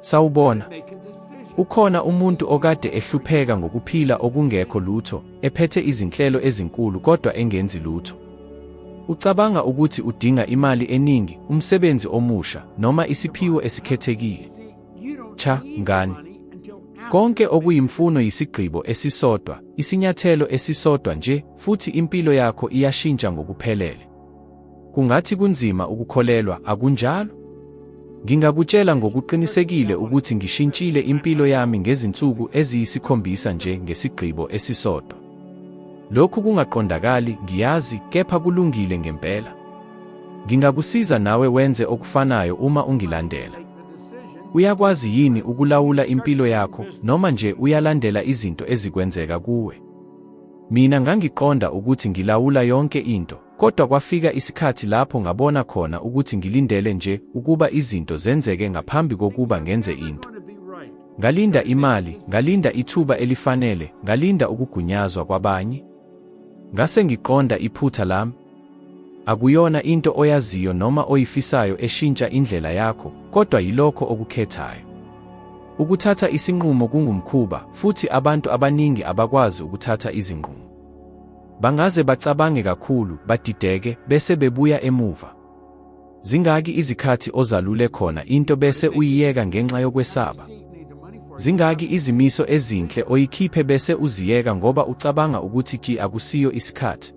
Sawubona. Ukhona umuntu okade ehlupheka ngokuphila okungekho lutho, ephethe izinhlelo ezinkulu kodwa engenzi lutho. Ucabanga ukuthi udinga imali eningi, umsebenzi omusha, noma isiphiwo esikhethekile. Cha, ngani. Konke okuyimfuno yisigqibo esisodwa, isinyathelo esisodwa nje, futhi impilo yakho iyashintsha ngokuphelele. Kungathi kunzima ukukholelwa, akunjalo? Ngingakutshela ngokuqinisekile ukuthi ngishintshile impilo yami ngezinsuku eziyisikhombisa nje ngesigqibo esisodwa. Lokhu kungaqondakali, ngiyazi, kepha kulungile ngempela. Ngingakusiza nawe wenze okufanayo uma ungilandela. Uyakwazi yini ukulawula impilo yakho noma nje uyalandela izinto ezikwenzeka kuwe? Mina ngangiqonda ukuthi ngilawula yonke into. Kodwa kwafika isikhathi lapho ngabona khona ukuthi ngilindele nje ukuba izinto zenzeke ngaphambi kokuba ngenze into. Ngalinda imali, ngalinda ithuba elifanele, ngalinda ukugunyazwa kwabanye. Ngase ngiqonda iphutha lami. Akuyona into oyaziyo noma oyifisayo eshintsha indlela yakho, kodwa yilokho okukhethayo. Ukuthatha isinqumo kungumkhuba, futhi abantu abaningi abakwazi ukuthatha izinqumo. Bangaze bacabange kakhulu, badideke, bese bebuya emuva. Zingaki izikhathi ozalule khona into bese uyiyeka ngenxa yokwesaba? Zingaki izimiso ezinhle oyikhiphe bese uziyeka ngoba ucabanga ukuthi ki akusiyo isikhathi?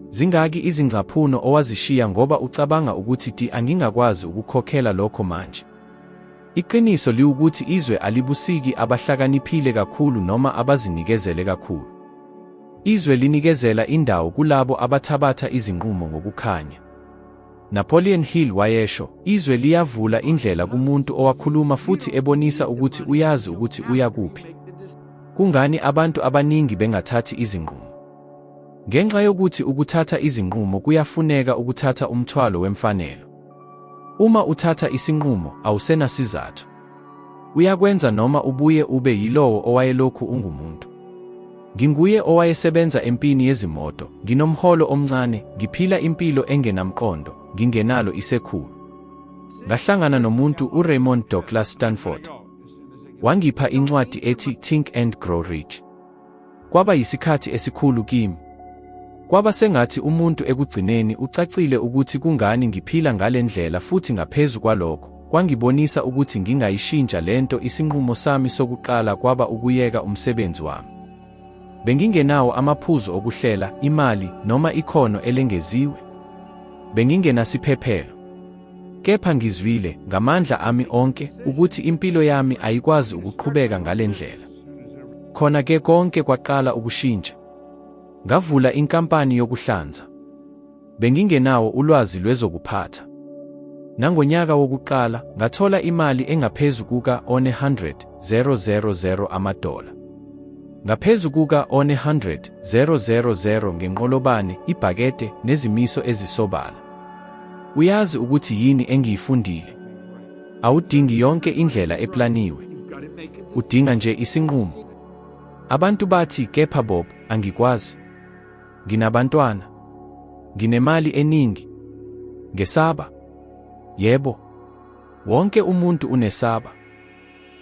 Zingaki izingcaphuno owazishiya ngoba ucabanga ukuthi ti angingakwazi ukukhokhela lokho manje? Iqiniso liwukuthi izwe alibusiki abahlakaniphile kakhulu noma abazinikezele kakhulu. Izwe linikezela indawo kulabo abathabatha izinqumo ngokukhanya. Napoleon Hill wayesho, izwe liyavula indlela kumuntu owakhuluma futhi ebonisa ukuthi uyazi ukuthi uya kuphi. Kungani abantu abaningi bengathathi izinqumo? Ngenxa yokuthi ukuthatha izinqumo kuyafuneka ukuthatha umthwalo wemfanelo. Uma uthatha isinqumo, awusenasizathu. Uyakwenza noma ubuye ube yilowo owayelokhu ungumuntu. Nginguye owayesebenza empini yezimoto, nginomholo omncane, ngiphila impilo engenamqondo, ngingenalo isekhulu. Ngahlangana nomuntu uRaymond Douglas Stanford. Wangipha incwadi ethi Think and Grow Rich. Kwaba yisikhathi esikhulu kimi. Kwaba sengathi umuntu ekugcineni ucacile ukuthi kungani ngiphila ngale ndlela futhi ngaphezu kwalokho, kwangibonisa ukuthi ngingayishintsha le nto isinqumo sami sokuqala kwaba ukuyeka umsebenzi wami. Bengingenawo amaphuzu okuhlela, imali, noma ikhono elengeziwe. Bengingenasiphephelo. Kepha ngizwile, ngamandla ami onke, ukuthi impilo yami ayikwazi ukuqhubeka ngale ndlela. Khona ke konke kwaqala ukushintsha. Ngavula inkampani yokuhlanza. Bengingenawo ulwazi lwezokuphatha. Nangonyaka wokuqala ngathola imali engaphezu kuka 100,000 amadola. Ngaphezu kuka 100,000 ngenqolobane, ibhakete nezimiso ezisobala. Uyazi ukuthi yini engiyifundile? Awudingi yonke indlela eplaniwe. Udinga nje isinqumo. Abantu bathi, kepha Bob, angikwazi. Nginabantwana. Nginemali eningi. Ngesaba. Yebo. Wonke umuntu unesaba.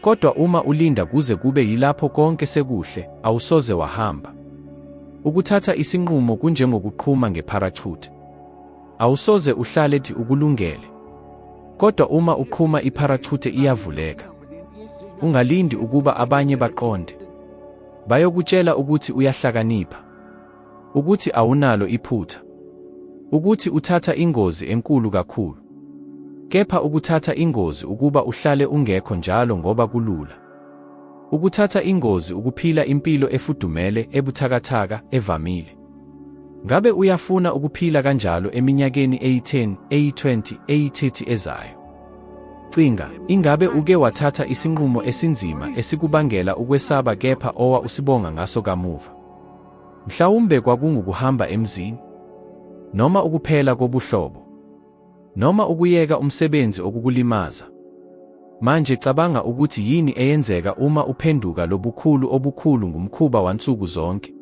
Kodwa uma ulinda kuze kube yilapho konke sekuhle, awusoze wahamba. Ukuthatha isinqumo kunjengokuqhuma ngeparachute. Awusoze uhlale thi ukulungele. Kodwa uma uqhuma ipharachuthe iyavuleka. Ungalindi ukuba abanye baqonde. Bayokutshela ukuthi uyahlakanipha. Ukuthi awunalo iphutha. Ukuthi uthatha ingozi enkulu kakhulu. Kepha ukuthatha ingozi ukuba uhlale ungekho njalo ngoba kulula. Ukuthatha ingozi ukuphila impilo efudumele, ebuthakathaka, evamile. Ngabe uyafuna ukuphila kanjalo eminyakeni eyi-10, eyi-20, eyi-30 ezayo? Cinga, ingabe uke wathatha isinqumo esinzima esikubangela ukwesaba kepha owa usibonga ngaso kamuva? Mhlawumbe kwakungukuhamba emzini? Noma ukuphela kobuhlobo? noma ukuyeka umsebenzi okukulimaza. Manje cabanga ukuthi yini eyenzeka uma uphenduka lobukhulu obukhulu ngumkhuba wansuku zonke.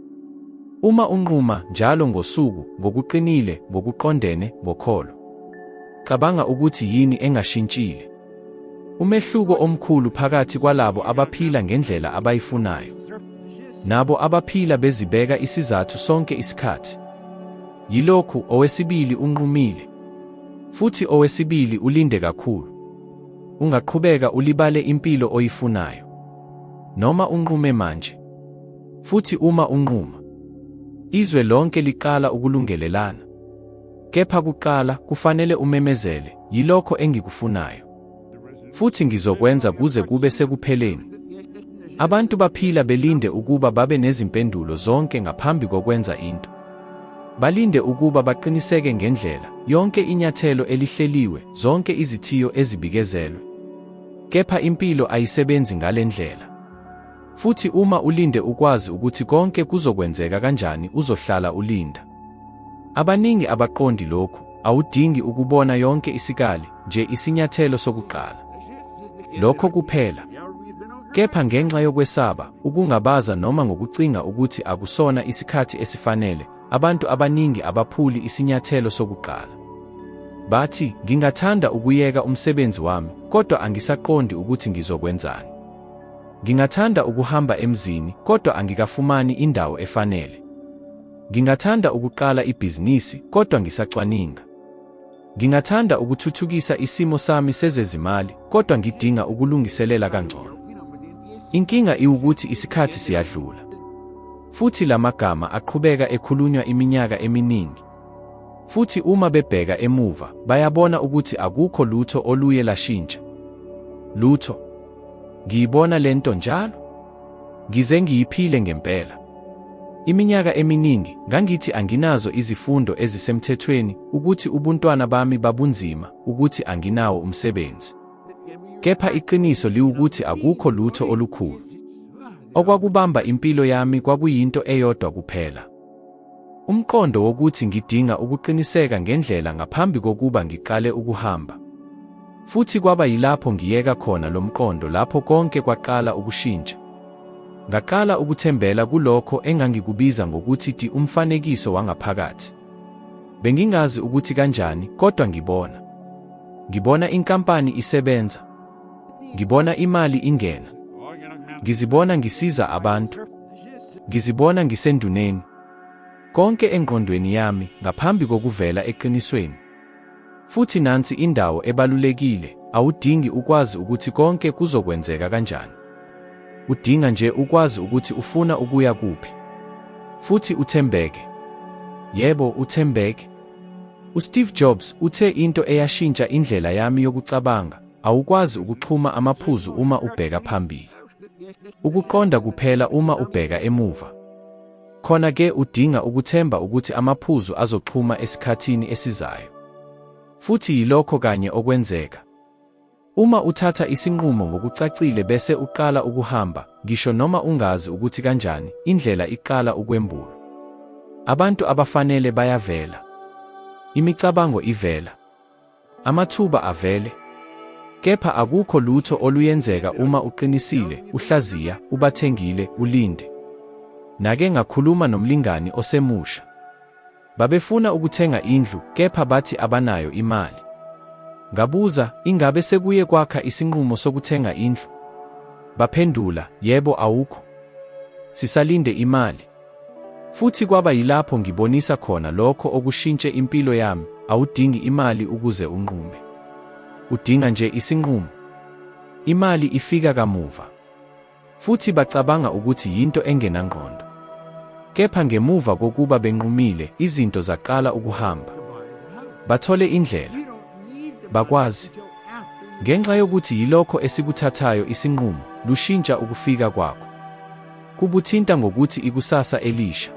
Uma unquma njalo ngosuku ngokuqinile ngokuqondene ngokholo. Cabanga ukuthi yini engashintshile. Umehluko omkhulu phakathi kwalabo abaphila ngendlela abayifunayo nabo abaphila bezibeka isizathu sonke isikhathi. Yilokhu, owesibili unqumile, futhi owesibili ulinde kakhulu. Ungaqhubeka ulibale impilo oyifunayo, noma unqume manje. Futhi uma unquma, izwe lonke liqala ukulungelelana. Kepha kuqala kufanele umemezele, Yilokho engikufunayo. futhi ngizokwenza kuze kube sekupheleni. Abantu baphila belinde ukuba babe nezimpendulo zonke ngaphambi kokwenza into. Balinde ukuba baqiniseke ngendlela, yonke inyathelo elihleliwe, zonke izithiyo ezibikezelwe. Kepha impilo ayisebenzi ngale ndlela. Futhi uma ulinde ukwazi ukuthi konke kuzokwenzeka kanjani uzohlala ulinda. Abaningi abaqondi lokhu, awudingi ukubona yonke isikali, nje isinyathelo sokuqala. Lokho kuphela. Kepha ngenxa yokwesaba, ukungabaza noma ngokucinga ukuthi akusona isikhathi esifanele, abantu abaningi abaphuli isinyathelo sokuqala. Bathi, ngingathanda ukuyeka umsebenzi wami, kodwa angisaqondi ukuthi ngizokwenzani. Ngingathanda ukuhamba emzini, kodwa angikafumani indawo efanele. Ngingathanda ukuqala ibhizinisi kodwa ngisacwaninga. Ngingathanda ukuthuthukisa isimo sami sezezimali kodwa ngidinga ukulungiselela kangcono. Inkinga iwukuthi isikhathi siyadlula. Futhi la magama aqhubeka ekhulunywa iminyaka eminingi. Futhi uma bebheka emuva, bayabona ukuthi akukho lutho oluye lashintsha. Lutho. Ngiyibona lento njalo. Ngize ngiyiphile ngempela. Iminyaka eminingi ngangithi anginazo izifundo ezisemthethweni, ukuthi ubuntwana bami babunzima, ukuthi anginawo umsebenzi. Kepha iqiniso liwukuthi akukho lutho olukhulu. Okwakubamba impilo yami kwakuyinto eyodwa kuphela. Umqondo wokuthi ngidinga ukuqiniseka ngendlela ngaphambi kokuba ngiqale ukuhamba. Futhi kwaba yilapho ngiyeka khona lo mqondo lapho konke kwaqala ukushintsha. Ngaqala ukuthembela kulokho engangikubiza ngokuthi ti umfanekiso wangaphakathi. Bengingazi ukuthi kanjani, kodwa ngibona. Ngibona inkampani isebenza. Ngibona imali ingena. Ngizibona ngisiza abantu. Ngizibona ngisenduneni. Konke engqondweni yami ngaphambi kokuvela eqinisweni. Futhi nansi indawo ebalulekile, awudingi ukwazi ukuthi konke kuzokwenzeka kanjani. Udinga nje ukwazi ukuthi ufuna ukuya kuphi. Futhi uthembeke. Yebo, uthembeke. USteve Jobs uthe into eyashintsha indlela yami yokucabanga Awukwazi ukuxhuma amaphuzu uma ubheka phambili. Ukuqonda kuphela uma ubheka emuva. Khona ke udinga ukuthemba ukuthi amaphuzu azoxhuma esikhathini esizayo. Futhi yilokho kanye okwenzeka. Uma uthatha isinqumo ngokucacile bese uqala ukuhamba, ngisho noma ungazi ukuthi kanjani, indlela iqala ukwembula. Abantu abafanele bayavela. Imicabango ivela. Amathuba avele. Kepha akukho lutho oluyenzeka uma uqinisile, uhlaziya, ubathengile, ulinde. Nake ngakhuluma nomlingani osemusha. Babefuna ukuthenga indlu kepha bathi abanayo imali. Ngabuza, ingabe sekuye kwakha isinqumo sokuthenga indlu? Baphendula, yebo awukho. Sisalinde imali. Futhi kwaba yilapho ngibonisa khona lokho okushintshe impilo yami, awudingi imali ukuze unqume. Udinga nje isinqumo. Imali ifika kamuva. Futhi bacabanga ukuthi yinto engenangqondo. Kepha ngemuva kokuba benqumile, izinto zaqala ukuhamba. Bathole indlela. Bakwazi. Ngenxa yokuthi yilokho esikuthathayo isinqumo, lushintsha ukufika kwakho. Kubuthinta ngokuthi ikusasa elisha,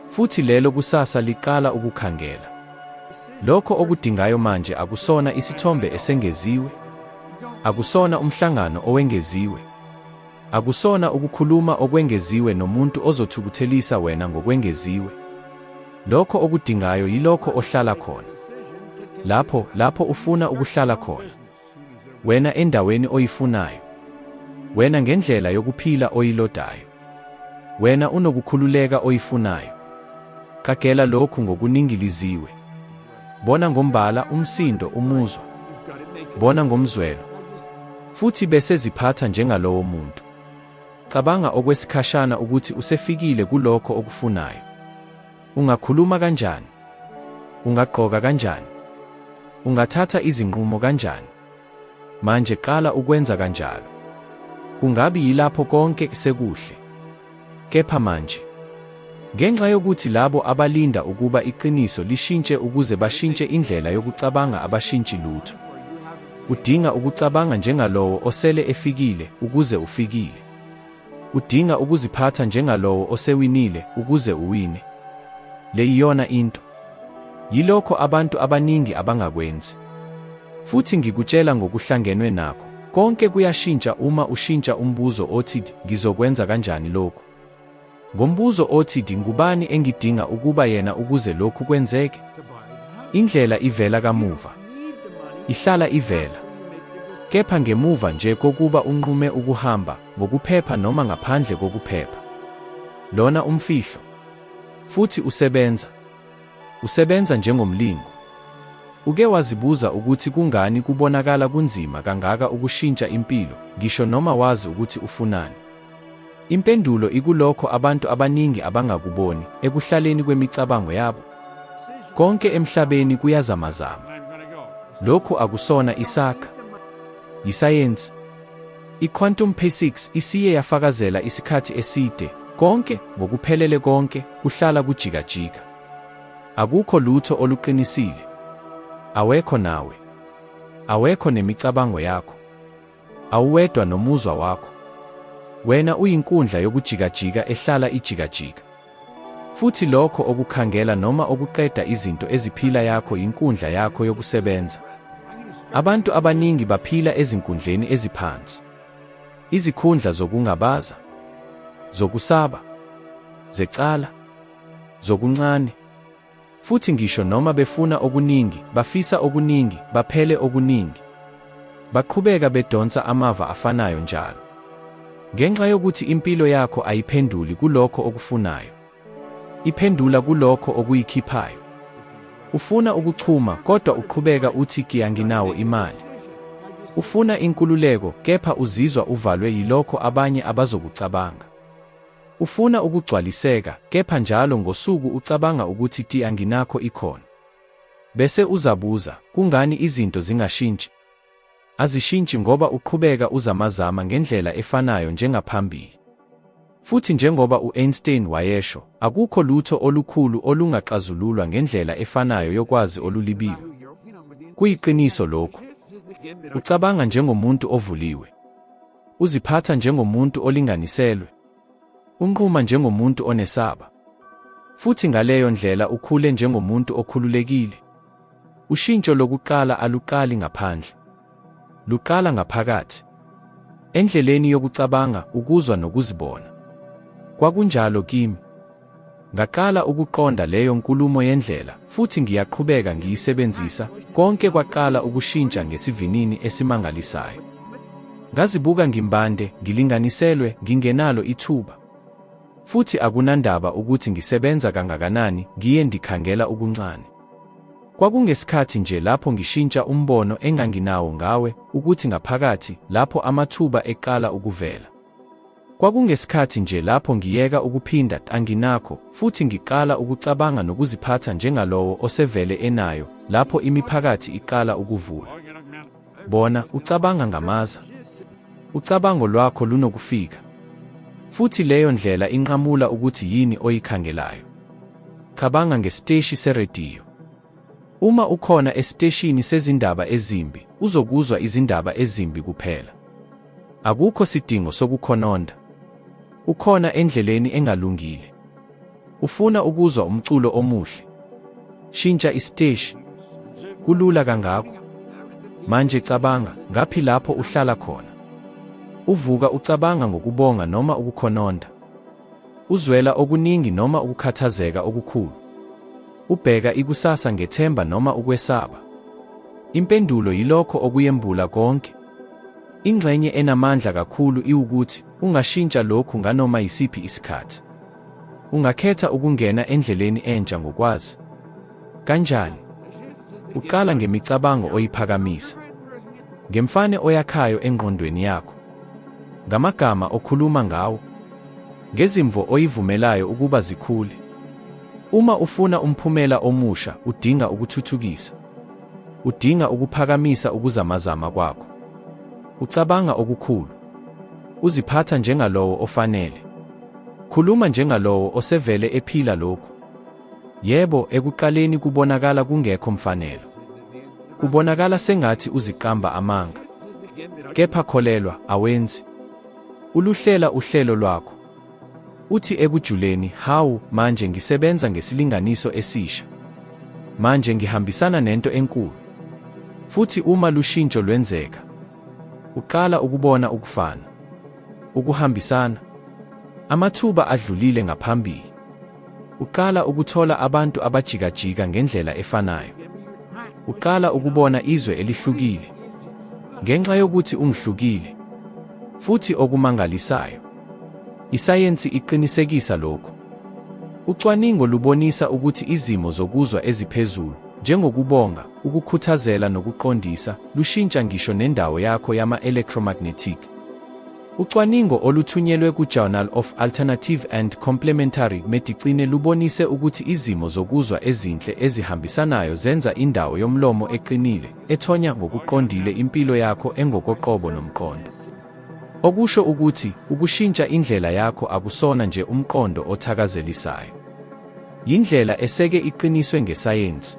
futhi lelo kusasa liqala ukukhangela. Lokho okudingayo manje akusona isithombe esengeziwe, akusona umhlangano owengeziwe, akusona ukukhuluma okwengeziwe nomuntu ozothukuthelisa wena ngokwengeziwe. Lokho okudingayo yilokho ohlala khona, lapho lapho ufuna ukuhlala khona. wena endaweni oyifunayo, wena ngendlela yokuphila oyilodayo, wena unokukhululeka oyifunayo. Qagela lokhu ngokuningiliziwe. Bona ngombala, umsindo, umuzwa. Bona ngomzwelo. Futhi bese ziphatha njengalowo muntu. Cabanga okwesikhashana ukuthi usefikile kulokho okufunayo. Ungakhuluma kanjani? Ungagqoka kanjani? Ungathatha izinqumo kanjani? Manje qala ukwenza kanjalo. Kungabi yilapho konke sekuhle. Kepha manje, ngenxa yokuthi labo abalinda ukuba iqiniso lishintshe ukuze bashintshe indlela yokucabanga abashintshi lutho. Udinga ukucabanga njengalowo osele efikile ukuze ufikile. Udinga ukuziphatha njengalowo osewinile ukuze uwine. Le iyona into. Yilokho abantu abaningi abangakwenzi. Futhi ngikutshela ngokuhlangenwe nakho, konke kuyashintsha uma ushintsha umbuzo othi ngizokwenza kanjani lokhu. Ngombuzo othi ngubani engidinga ukuba yena ukuze lokhu kwenzeke? Indlela ivela kamuva. Ihlala ivela. Kepha ngemuva nje kokuba unqume ukuhamba, ngokuphepha noma ngaphandle kokuphepha. Lona umfihlo. Futhi usebenza. Usebenza njengomlingo. Uke wazibuza ukuthi kungani kubonakala kunzima kangaka ukushintsha impilo, ngisho noma wazi ukuthi ufunani? Impendulo ikulokho abantu abaningi abangakuboni ekuhlaleni kwemicabango yabo. Konke emhlabeni kuyazamazama. Lokhu akusona isakha. Yisayensi. I-quantum physics isiye yafakazela isikhathi eside, konke, ngokuphelele konke, kuhlala kujikajika. Akukho lutho oluqinisile. Awekho nawe. Awekho nemicabango yakho. Awuwedwa nomuzwa wakho. Wena uyinkundla yokujikajika ehlala ijikajika. Futhi lokho okukhangela noma okuqeda izinto eziphila yakho yinkundla yakho yokusebenza. Abantu abaningi baphila ezinkundleni eziphansi. Izikhundla zokungabaza, zokusaba, zecala, zokuncane, Futhi ngisho noma befuna okuningi, bafisa okuningi, baphele okuningi, baqhubeka bedonsa amava afanayo njalo. Ngenxa yokuthi impilo yakho ayiphenduli kulokho okufunayo, iphendula kulokho okuyikhiphayo. Ufuna ukuchuma, kodwa uqhubeka uthi kiya nginawo imali. Ufuna inkululeko, kepha uzizwa uvalwe yilokho abanye abazokucabanga. Ufuna ukugcwaliseka, kepha njalo ngosuku ucabanga ukuthi ti anginakho ikhono. Bese uzabuza, kungani izinto zingashintshi? Azishintshi ngoba uqhubeka uzamazama ngendlela efanayo njengaphambili. Futhi njengoba u-Einstein wayesho, akukho lutho olukhulu olungaxazululwa ngendlela efanayo yokwazi olulibiwe. Kuyiqiniso lokhu. Ucabanga njengomuntu ovuliwe. Uziphatha njengomuntu olinganiselwe. Unquma njengomuntu onesaba. Futhi ngaleyo ndlela ukhule njengomuntu okhululekile. Ushintsho lokuqala aluqali ngaphandle. Luqala ngaphakathi. Endleleni yokucabanga, ukuzwa nokuzibona. Kwakunjalo kimi. Ngaqala ukuqonda leyo nkulumo yendlela, futhi ngiyaqhubeka ngiyisebenzisa, konke kwaqala ukushintsha ngesivinini esimangalisayo. Ngazibuka ngimbande, ngilinganiselwe, ngingenalo ithuba. Futhi akunandaba ukuthi ngisebenza kangakanani, ngiye ndikhangela ukuncane. Kwakungesikhathi nje lapho ngishintsha umbono enganginawo ngawe, ukuthi ngaphakathi, lapho amathuba eqala ukuvela. Kwakungesikhathi nje lapho ngiyeka ukuphinda anginakho futhi ngiqala ukucabanga nokuziphatha njengalowo osevele enayo lapho imiphakathi iqala ukuvula. Bona, ucabanga ngamaza. Ucabango lwakho lunokufika. Futhi leyo ndlela inqamula ukuthi yini oyikhangelayo. Cabanga ngesiteshi serediyo. Uma ukhona esiteshini sezindaba ezimbi, uzokuzwa izindaba ezimbi kuphela. Akukho sidingo sokukhononda. Ukhona endleleni engalungile. Ufuna ukuzwa umculo omuhle. Shintsha isiteshi. Kulula kangako. Manje cabanga, ngaphi lapho uhlala khona? Uvuka ucabanga ngokubonga noma ukukhononda? Uzwela okuningi noma ukukhathazeka okukhulu? Ubheka ikusasa ngethemba noma ukwesaba? Impendulo yilokho okuyembula konke. Ingxenye enamandla kakhulu iwukuthi ungashintsha lokhu nganoma yisiphi isikhathi. Ungakhetha ukungena endleleni entsha ngokwazi. Kanjani? Uqala ngemicabango oyiphakamisa, ngemfane oyakhayo engqondweni yakho. Ngamagama okhuluma ngawo. Ngezimvo oyivumelayo ukuba zikhule. Uma ufuna umphumela omusha, udinga ukuthuthukisa. Udinga ukuphakamisa ukuzamazama kwakho. Ucabanga okukhulu. Uziphatha njengalowo ofanele. Khuluma njengalowo osevele ephila lokhu. Yebo, ekuqaleni kubonakala kungekho mfanelo. Kubonakala sengathi uziqamba amanga. Kepha kholelwa, awenzi. Uluhlela uhlelo lwakho. Uthi ekujuleni, hawu, manje ngisebenza ngesilinganiso esisha. Manje ngihambisana nento enkulu. Futhi uma lushintsho lwenzeka, uqala ukubona ukufana, ukuhambisana, amathuba adlulile ngaphambili. Uqala ukuthola abantu abajikajika ngendlela efanayo. Uqala ukubona izwe elihlukile. Ngenxa yokuthi ungihlukile. Futhi okumangalisayo, isayensi iqinisekisa lokhu. Ucwaningo lubonisa ukuthi izimo zokuzwa eziphezulu, njengokubonga, ukukhuthazela nokuqondisa, lushintsha ngisho nendawo yakho yama-electromagnetic. Ucwaningo oluthunyelwe ku-Journal of Alternative and Complementary Medicine lubonise ukuthi izimo zokuzwa ezinhle ezihambisanayo zenza indawo yomlomo eqinile, ethonya ngokuqondile impilo yakho engokoqobo nomqondo. Okusho ukuthi, ukushintsha indlela yakho akusona nje umqondo othakazelisayo. Yindlela eseke iqiniswe ngesayensi.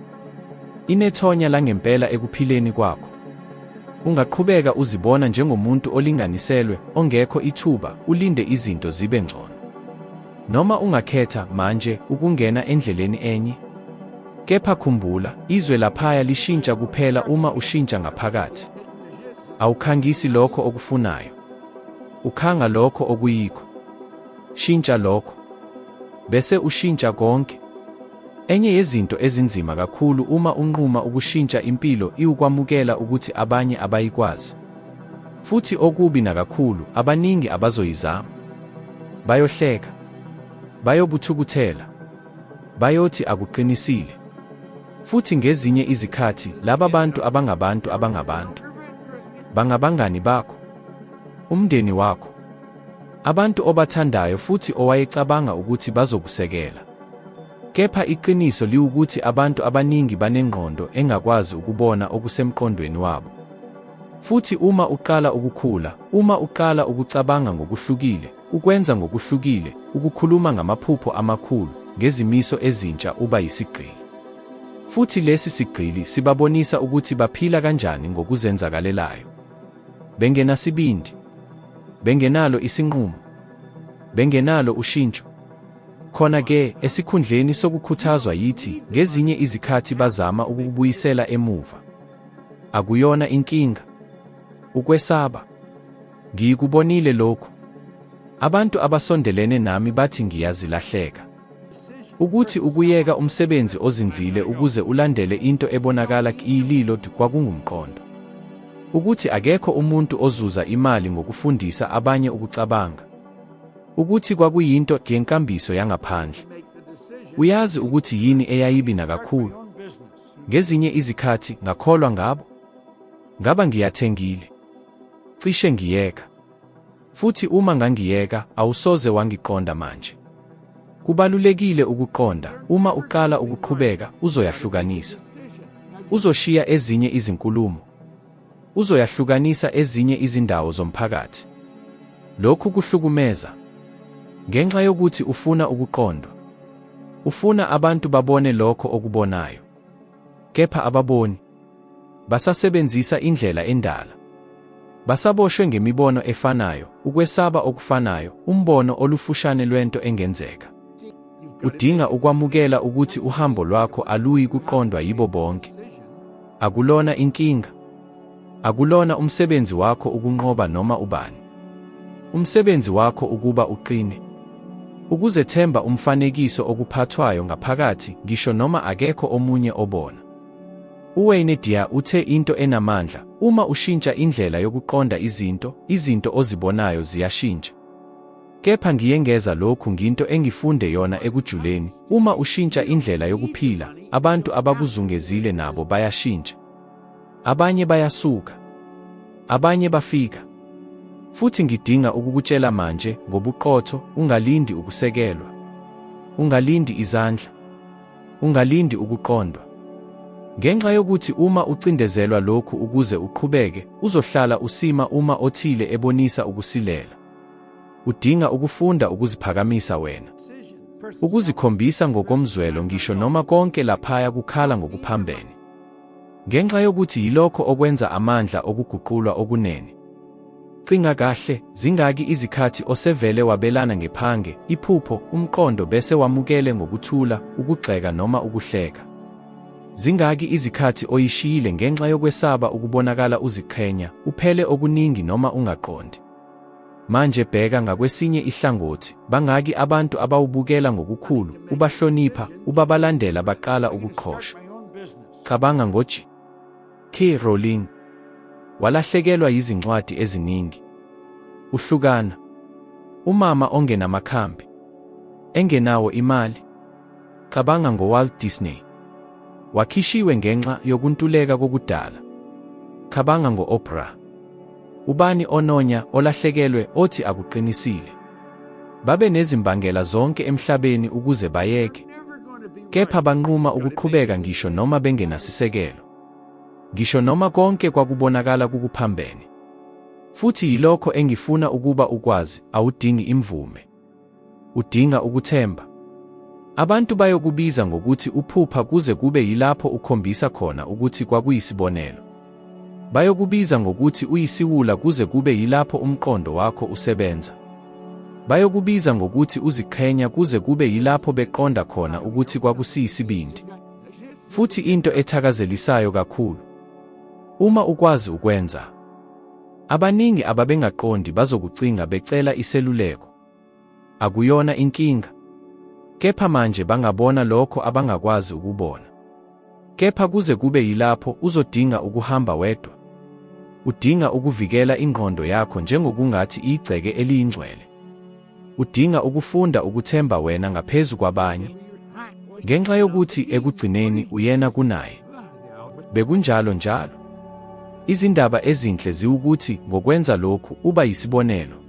Inethonya langempela ekuphileni kwakho. Ungaqhubeka uzibona njengomuntu olinganiselwe, ongekho ithuba, ulinde izinto zibe ngcono. Noma ungakhetha manje ukungena endleleni enye. Kepha khumbula, izwe laphaya lishintsha kuphela uma ushintsha ngaphakathi. Awukhangisi lokho okufunayo. Ukhanga lokho okuyikho. Shintsha lokho, bese ushintsha konke. Enye yezinto ezinzima kakhulu uma unquma ukushintsha impilo iwukwamukela ukuthi abanye abayikwazi. Futhi okubi nakakhulu, abaningi abazoyizama. Bayohleka. Bayokuthukuthela. Bayothi akuqinisile. Futhi ngezinye izikhathi laba bantu abangabantu abangabantu bangabangani bakho, umndeni wakho, Abantu obathandayo futhi owayecabanga ukuthi bazokusekela. Kepha iqiniso liwukuthi abantu abaningi banengqondo engakwazi ukubona okusemqondweni wabo. Futhi uma uqala ukukhula, uma uqala ukucabanga ngokuhlukile, ukwenza ngokuhlukile, ukukhuluma ngamaphupho amakhulu, ngezimiso ezintsha uba yisigqili. Futhi lesi sigqili sibabonisa ukuthi baphila kanjani ngokuzenzakalelayo. Bengenasibindi. Bengenalo isinqumo. Bengenalo ushintsho. Khona ke, esikhundleni sokukhuthazwa yithi, ngezinye izikhathi bazama ukukubuyisela emuva. Akuyona inkinga. Ukwesaba. Ngiyikubonile lokhu. Abantu abasondelene nami bathi ngiyazilahleka. Ukuthi ukuyeka umsebenzi ozinzile ukuze ulandele into ebonakala kiyililo kwakungumqondo. Ukuthi akekho umuntu ozuza imali ngokufundisa abanye ukucabanga. Ukuthi kwakuyinto yenkambiso yangaphandle. Uyazi ukuthi yini eyayibi nakakhulu. Ngezinye izikhathi ngakholwa ngabo. Ngaba ngiyathengile. Cishe ngiyeka. Futhi uma ngangiyeka, awusoze wangiqonda manje. Kubalulekile ukuqonda, uma uqala ukuqhubeka, uzoyahlukanisa. Uzoshiya ezinye izinkulumo. Uzoyahlukanisa ezinye izindawo zomphakathi. Lokhu kuhlukumeza. Ngenxa yokuthi ufuna ukuqondwa. Ufuna abantu babone lokho okubonayo. Kepha ababoni. Basasebenzisa indlela endala. Basaboshwe ngemibono efanayo, ukwesaba okufanayo, umbono olufushane lwento engenzeka. Udinga ukwamukela ukuthi uhambo lwakho aluyi kuqondwa yibo bonke. Akulona inkinga. Akulona umsebenzi wakho ukunqoba noma ubani. Umsebenzi wakho ukuba uqine. Ukuzethemba umfanekiso okuphathwayo ngaphakathi, ngisho noma akekho omunye obona. UWayne Dyer uthe into enamandla, uma ushintsha indlela yokuqonda izinto, izinto ozibonayo ziyashintsha. Kepha ngiyengeza lokhu nginto engifunde yona ekujuleni, uma ushintsha indlela yokuphila, abantu abakuzungezile nabo bayashintsha. Abanye bayasuka. Abanye bafika. Futhi ngidinga ukukutshela manje, ngobuqotho, ungalindi ukusekelwa. Ungalindi izandla. Ungalindi ukuqondwa. Ngenxa yokuthi uma ucindezelwa lokhu ukuze uqhubeke, uzohlala usima uma othile ebonisa ukusilela. Udinga ukufunda ukuziphakamisa wena. Ukuzikhombisa ngokomzwelo ngisho noma konke laphaya kukhala ngokuphambene. Ngenxa yokuthi yilokho okwenza amandla okuguqulwa okunene. Cinga kahle, zingaki izikhathi osevele wabelana ngephange, iphupho, umqondo bese wamukele ngokuthula, ukugxeka noma ukuhleka? Zingaki izikhathi oyishiyile ngenxa yokwesaba ukubonakala uziqhenya, uphele okuningi noma ungaqondi? Manje bheka ngakwesinye ihlangothi, bangaki abantu abawubukela ngokukhulu, ubahlonipha, ubabalandela baqala ukuqhosha. Cabanga ngoji. K. Rowling. Walahlekelwa yizincwadi eziningi. Uhlukana. Umama ongenamakhambi. Engenawo imali. Cabanga ngoWalt Disney. Wakhishiwe ngenxa yokuntuleka kokudala. Cabanga ngo-Oprah. Ubani ononya olahlekelwe othi akuqinisile? Babe nezimbangela zonke emhlabeni ukuze bayeke, kepha banquma ukuqhubeka ngisho noma bengenasisekelo, ngisho noma konke kwakubonakala kukuphambene. Futhi yilokho engifuna ukuba ukwazi, awudingi imvume. Udinga ukuthemba. Abantu bayokubiza ngokuthi uphupha kuze kube yilapho ukhombisa khona ukuthi kwakuyisibonelo. Bayokubiza ngokuthi uyisiwula kuze kube yilapho umqondo wakho usebenza. Bayokubiza ngokuthi uziqhenya kuze kube yilapho beqonda khona ukuthi kwakusiyisibindi. Futhi into ethakazelisayo kakhulu, uma ukwazi ukwenza, abaningi ababengaqondi bazokucinga becela iseluleko. Akuyona inkinga. Kepha manje bangabona lokho abangakwazi ukubona. Kepha kuze kube yilapho uzodinga ukuhamba wedwa. Udinga ukuvikela ingqondo yakho njengokungathi igceke eliyingcwele. Udinga ukufunda ukuthemba wena ngaphezu kwabanye. Ngenxa yokuthi ekugcineni uyena kunaye. Bekunjalo njalo. Izindaba ezinhle ziwukuthi ngokwenza lokhu uba yisibonelo.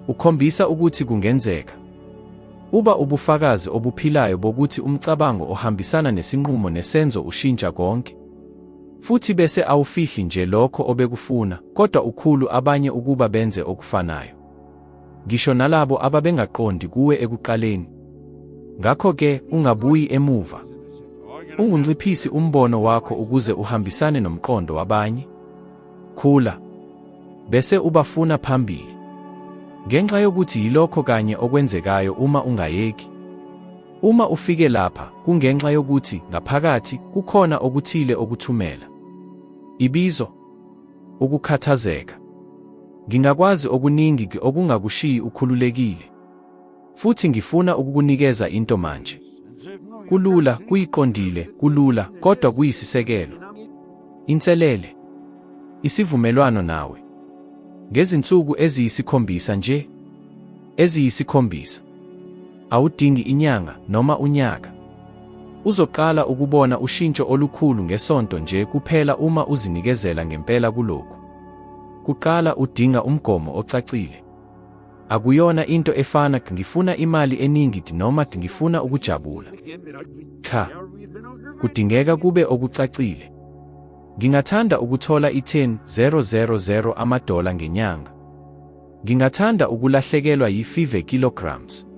Ukhombisa ukuthi kungenzeka. Uba ubufakazi obuphilayo bokuthi umcabango ohambisana nesinqumo nesenzo ushintsha konke. Futhi bese awufihli nje lokho obekufuna, kodwa ukhulu abanye ukuba benze okufanayo. Ngisho nalabo ababengaqondi kuwe ekuqaleni. Ngakho-ke, ungabuyi emuva. Ungunciphisi umbono wakho ukuze uhambisane nomqondo wabanye. Khula. Bese ubafuna phambili. Ngenxa yokuthi yilokho kanye okwenzekayo uma ungayeki. Uma ufike lapha, kungenxa yokuthi ngaphakathi kukhona okuthile okuthumela. Ibizo. Ukukhathazeka. Ngingakwazi okuningi okungakushiyi ukhululekile. Futhi ngifuna ukukunikeza into manje. Kulula, kuyiqondile, kulula, kodwa kuyisisekelo. Inselele. Isivumelwano nawe. Ngezinsuku eziyisikhombisa nje. Eziyisikhombisa. Awudingi inyanga noma unyaka. Uzoqala ukubona ushintsho olukhulu ngesonto nje kuphela uma uzinikezela ngempela kulokhu. Kuqala udinga umgomo ocacile. Akuyona into efana ngifuna imali eningi noma ngifuna ukujabula. Cha. Kudingeka kube okucacile. Ngingathanda ukuthola i-10,000 amadola ngenyanga. Ngingathanda ukulahlekelwa yi-5 kilograms.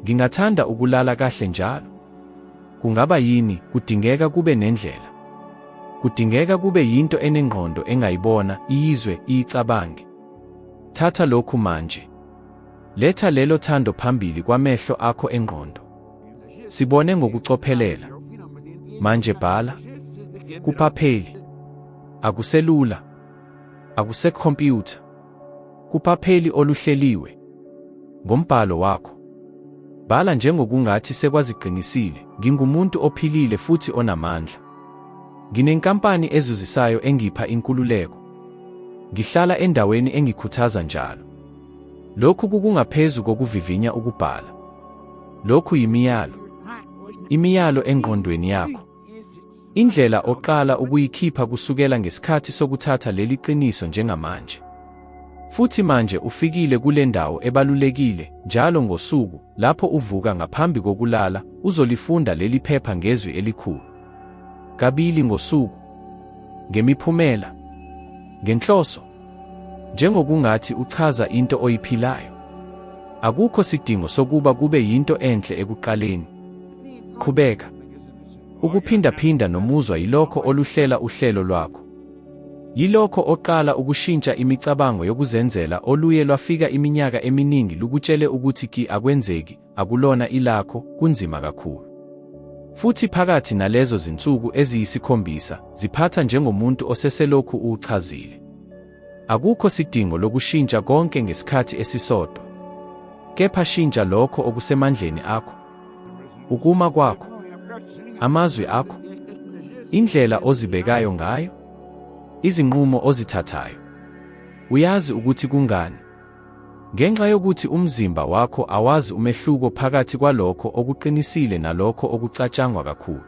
Ngingathanda ukulala kahle njalo. Kungaba yini? Kudingeka kube nendlela. Kudingeka kube yinto enengqondo engayibona, iyizwe, iyicabange. Thatha lokhu manje. Letha lelo thando phambili kwamehlo akho engqondo. Sibone ngokucophelela. Manje bhala. Kuphapheli. Akuselula. Akusekhompyutha. Kuphapheli oluhleliwe. Ngombhalo wakho. Bhala njengokungathi sekwaziqinisile, ngingumuntu ophilile futhi onamandla. Nginenkampani ezuzisayo engipha inkululeko. Ngihlala endaweni engikhuthaza njalo. Lokhu kukungaphezu kokuvivinya ukubhala. Lokhu yimiyalo. Imiyalo engqondweni yakho. Indlela oqala ukuyikhipha kusukela ngesikhathi sokuthatha leli qiniso njengamanje. Futhi manje ufikile kule ndawo ebalulekile, njalo ngosuku, lapho uvuka ngaphambi kokulala, uzolifunda leli phepha ngezwi elikhulu. Kabili ngosuku. Ngemiphumela. Ngenhloso. Njengokungathi uchaza into oyiphilayo. Akukho sidingo sokuba kube yinto enhle ekuqaleni. Qhubeka. Ukuphindaphinda nomuzwa yilokho oluhlela uhlelo lwakho. Yilokho oqala ukushintsha imicabango yokuzenzela oluye lwafika iminyaka eminingi lukutshele ukuthi ki akwenzeki, akulona ilakho, kunzima kakhulu. Futhi phakathi nalezo zinsuku eziyisikhombisa, ziphatha njengomuntu oseselokhu uwuchazile. Akukho sidingo lokushintsha konke ngesikhathi esisodwa. Kepha shintsha lokho okusemandleni akho, Ukuma kwakho, amazwi akho, indlela ozibekayo ngayo, izinqumo ozithathayo. Uyazi ukuthi kungani? Ngenxa yokuthi umzimba wakho awazi umehluko phakathi kwalokho okuqinisile nalokho okucatshangwa kakhulu.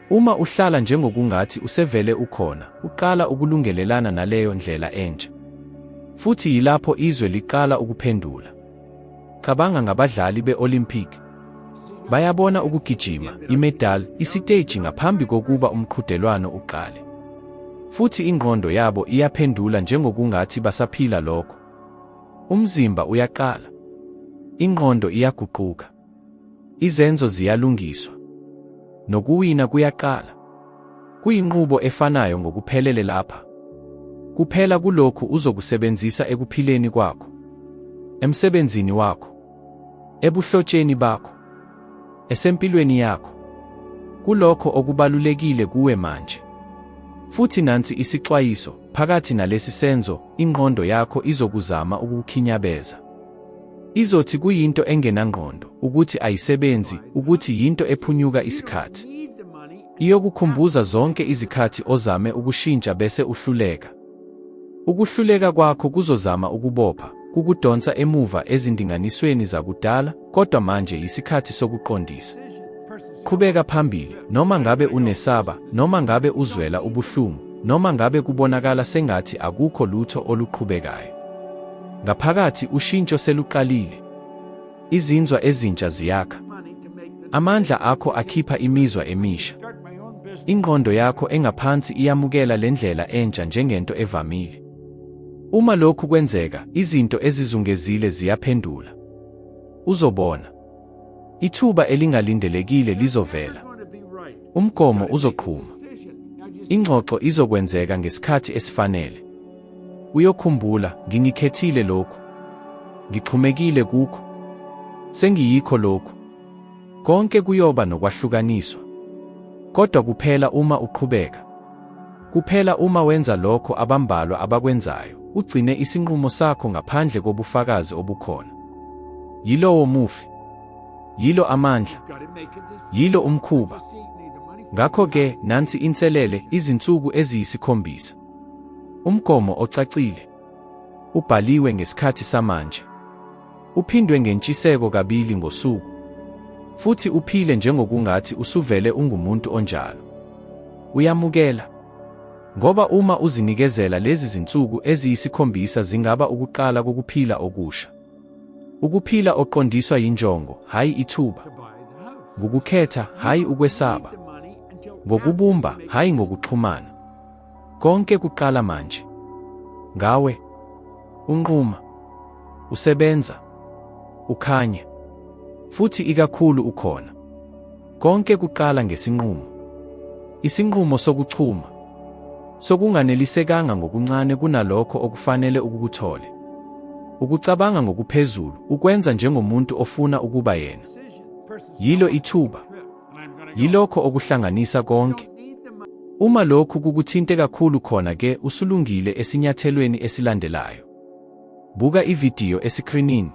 Uma uhlala njengokungathi usevele ukhona, uqala ukulungelelana naleyo ndlela entsha. Futhi yilapho izwe liqala ukuphendula. Cabanga ngabadlali be-Olympic. Bayabona ukugijima, imedali, isiteji ngaphambi kokuba umqhudelwano uqale. Futhi ingqondo yabo iyaphendula njengokungathi basaphila lokho. Umzimba uyaqala. Ingqondo iyaguquka. Izenzo ziyalungiswa. Nokuwina kuyaqala. Kuyinqubo efanayo ngokuphelele lapha. Kuphela kulokhu uzokusebenzisa ekuphileni kwakho, emsebenzini wakho, ebuhlotsheni bakho, esempilweni yakho, kulokho okubalulekile kuwe manje. Futhi nansi isixwayiso, phakathi nalesi senzo, ingqondo yakho izokuzama ukukhinyabeza. Izothi kuyinto engenangqondo, ukuthi ayisebenzi, ukuthi yinto ephunyuka isikhathi. Iyokukhumbuza zonke izikhathi ozame ukushintsha bese uhluleka. Ukuhluleka kwakho kuzozama ukubopha, kukudonsa emuva ezindinganisweni zakudala, kodwa manje yisikhathi sokuqondisa. Qhubeka phambili, noma ngabe unesaba, noma ngabe uzwela ubuhlungu, noma ngabe kubonakala sengathi akukho lutho oluqhubekayo. Ngaphakathi ushintsho seluqalile. Izinzwa ezintsha ziyakha. Amandla akho akhipha imizwa emisha. Ingqondo yakho engaphansi iyamukela le ndlela entsha njengento evamile. Uma lokhu kwenzeka, izinto ezizungezile ziyaphendula. Uzobona. Ithuba elingalindelekile lizovela. Umgomo uzoqhuma. Ingxoxo izokwenzeka ngesikhathi esifanele. Uyokhumbula, ngingikhethile lokhu. Ngixhumekile kukho. Sengiyikho lokhu. Konke kuyoba nokwahlukaniswa. Kodwa kuphela uma uqhubeka. Kuphela uma wenza lokho abambalwa abakwenzayo, ugcine isinqumo sakho ngaphandle kobufakazi obukhona. Yilowo mufi. Yilo amandla. Yilo umkhuba. Ngakho-ke, nansi inselele, izinsuku eziyisikhombisa. Umgomo ocacile. Ubhaliwe ngesikhathi samanje. Uphindwe ngentshiseko kabili ngosuku. Futhi uphile njengokungathi usuvele ungumuntu onjalo. Uyamukela. Ngoba uma uzinikezela lezi zinsuku eziyisikhombisa zingaba ukuqala kokuphila okusha. Ukuphila oqondiswa yinjongo, hhayi ithuba. Ngukukhetha, hhayi ukwesaba. Ngokubumba, hhayi ngokuxhumana. Konke kuqala manje. Ngawe. Unquma. Usebenza. Ukhanya. Futhi ikakhulu ukhona. Konke kuqala ngesinqumo. Isinqumo sokuchuma. Sokunganelisekanga ngokuncane kunalokho okufanele ukukuthole. Ukucabanga ngokuphezulu, ukwenza njengomuntu ofuna ukuba yena. Yilo ithuba. Yilokho okuhlanganisa konke. Uma lokhu kukuthinte kakhulu khona ke usulungile esinyathelweni esilandelayo. Buka ividiyo esikrinini.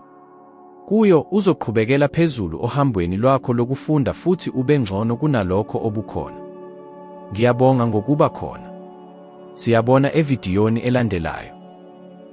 Kuyo uzoqhubekela phezulu ohambweni lwakho lokufunda futhi ube ngcono kunalokho obukhona. Ngiyabonga ngokuba khona. Siyabona evidiyoni elandelayo.